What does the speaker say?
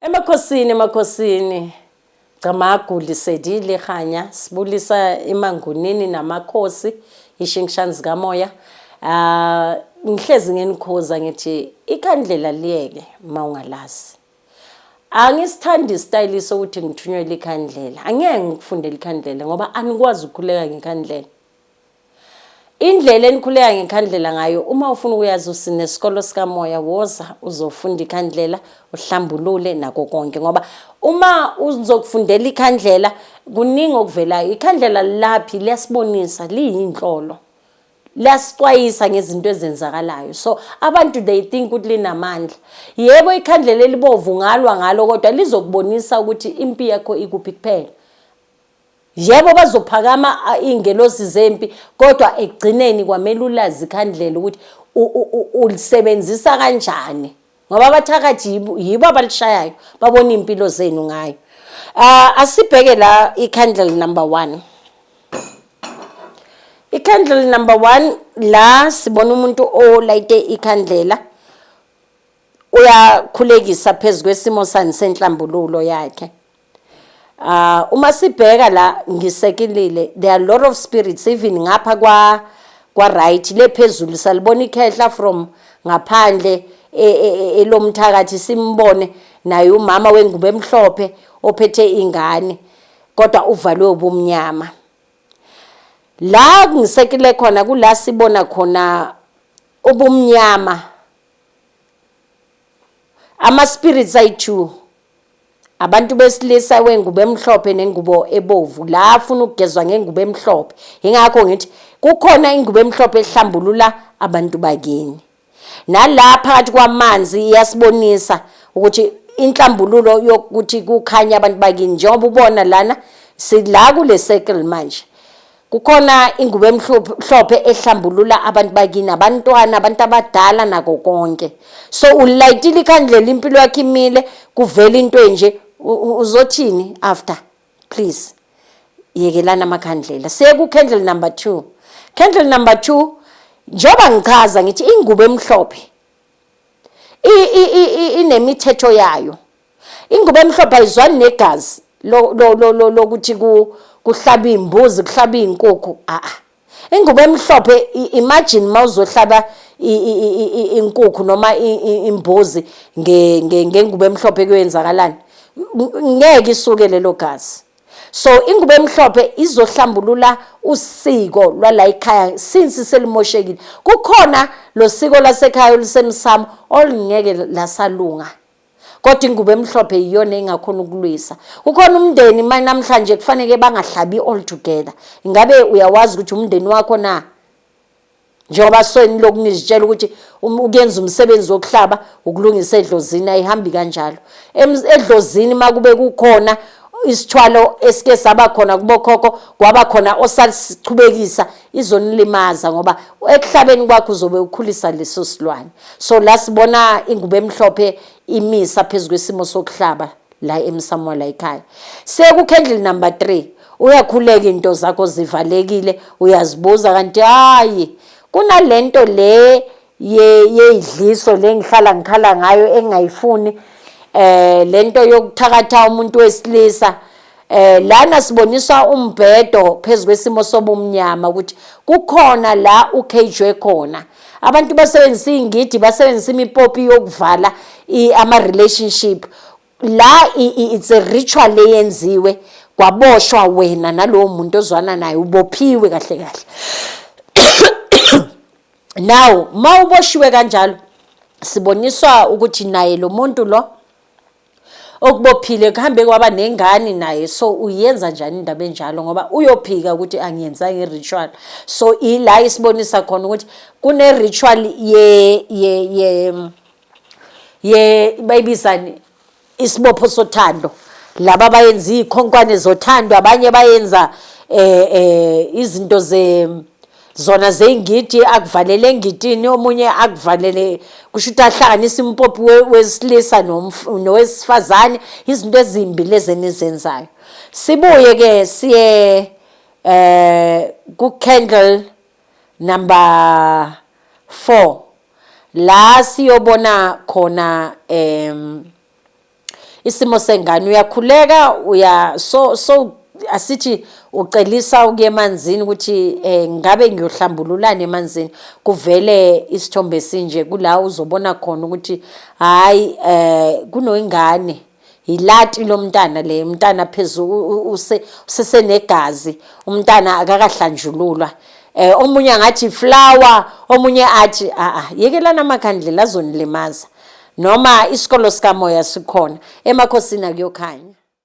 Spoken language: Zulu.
Emakhosini emakhosini Camagu lisedile khanya sibulisa emangunini namakhosi ishingishani zikamoya ah ngihlezi ngenikhoza ngithi ikhandlela liyeke mawungalazi angisithandi isitayile sokuthi ngithunywe likhandlela angeke ngikufundele ikhandlela ngoba anikwazi ukukhuleka ngekhandlela Indlela enikhuleka ngekhandlela ngayo uma ufuna ukuyazi usinesikolo sikamoya woza uzofunda ikhandlela uhlambulule nako konke ngoba uma uzokufundela ikhandlela kuningi okuvelayo ikhandlela laphi liyasibonisa liyinhlolo liyasixwayisa ngezinto ezenzakalayo so abantu they think ukuthi linamandla yebo ikhandlela elibovu ngalwa ngalo kodwa lizokubonisa ukuthi impi yakho ikuphi kuphela Yebo bazophakama iy'ngelosi zempi kodwa ekugcineni kwamele ulazi ikhandlela ukuthi ulisebenzisa kanjani ngoba abathakathi yibo abalishayayo babona iy'mpilo zenu ngayo um asibheke la i-candle number one i-candle number one la sibona umuntu olayite ikhandlela uyakhulekisa phezu kwesimo sani senhlambululo yakhe Ah uma sibheka la ngisekilile there are a lot of spirits even ngapha kwa kwa right le phezulu salibona ikhehla from ngaphandle e, e, e, elomthakathi simbone naye umama wengubo emhlophe ophethe ingane kodwa uvalwe ubumnyama la kungisekile khona kula sibona khona ubumnyama ama spirits ayi2 abantu besilisa wengubo emhlophe nengubo ebovu la afuna ukugezwa ngengubo emhlophe ingakho ngithi kukhona ingubo emhlophe ehlambulula abantu bakini nala phakathi kwamanzi iyasibonisa ukuthi inhlambululo yokuthi kukhanya abantu bakini njengoba ubona lana sila kule circle manje Kukhona ingubo emhlophe ehlambulula abantu bakini abantwana abantu abadala nako konke so ulayitile ikhandlela impilo yakhe imile kuvela into enje uzothini after please yekelana amakhandlela siye ku-candle number two candle number two njengoba ngichaza ngithi ingubo emhlophe inemithetho yayo Ingubo emhlophe ayizwani negazi lokuthi kuhlaba iy'mbuzi kuhlaba iy'nkukhu a-a ingubo emhlophe imagine uma uzohlaba inkukhu noma imbuzi ngengubo emhlophe kuyoyenzakalani ngeke isuke lelo gazi so ingubo emhlophe izohlambulula usiko lwala ekhaya since selimoshekile kukhona lo siko lasekhaya olusemsamo olungeke lasalunga kodwa ingubo emhlophe iyona engakhona ukulwisa kukhona umndeni manje namhlanje kufanele bangahlabi all together ingabe uyawazi ukuthi umndeni wakho na njengoba sweni lokunizitshela ukuthi um, ukuyenza umsebenzi wokuhlaba ukulungisa edlozini ayihambi kanjalo edlozini makube kukhona isithwalo esike saba khona kubokhokho kwaba khona osasichubekisa izonilimaza ngoba ekuhlabeni kwakho uzobe ukhulisa leso silwane so la sibona ingubo emhlophe imisa phezu kwesimo sokuhlaba la emsamo la ekhaya sekukhendle number 3 uyakhuleka into zakho zivalekile uyazibuza kanti hayi kunalento le yeyidliso le ngihlala ngikhala ngayo engingayifuni eh lento yokuthakatha umuntu wesilisa eh lana siboniswa umbhedo phezulu kwesimo sobumnyama ukuthi kukhona la ukhejwe khona abantu basebenzisa ingidi basebenzisa imipopi yokuvala ama relationship la it's a ritual leyenziwe kwaboshwa wena nalowo muntu ozwana naye ubophiwe kahle kahle now uma uboshiwe kanjalo siboniswa ukuthi naye lo muntu lo okubophile kuhambe kwaba nengane naye so uyenza njani indaba enjalo ngoba uyophika ukuthi angiyenza nge-ritual so ila isibonisa khona ukuthi kune-ritual ye ye ye ye bayibizani isibopho sothando laba bayenza iy'khonkwane zothando abanye bayenza eh eh izinto ze zona zey'ngidi akuvalele engidini omunye akuvalele kusho ukuthi ahlanganise impopi wesilisa nowesifazane izinto ezimbi lezi enizenzayo sibuye ke siye eh ku-candle number four la siyobona khona um isimo sengane uyakhuleka uya so so asithi ucelisa ukuya emanzini ukuthi eh ngabe ngiyohlambululana emanzini kuvele isithombe sinje kula uzobona khona ukuthi hayi eh kunoyingane Yilati lomntana le umntana phezulu u- u- use- usesenegazi umntana akakahlanjululwa eh omunye angathi flower omunye athi a a yekelana amakhandlela azonilimaza noma isikolo sikamoya sikhona emakhosini akuyokhanya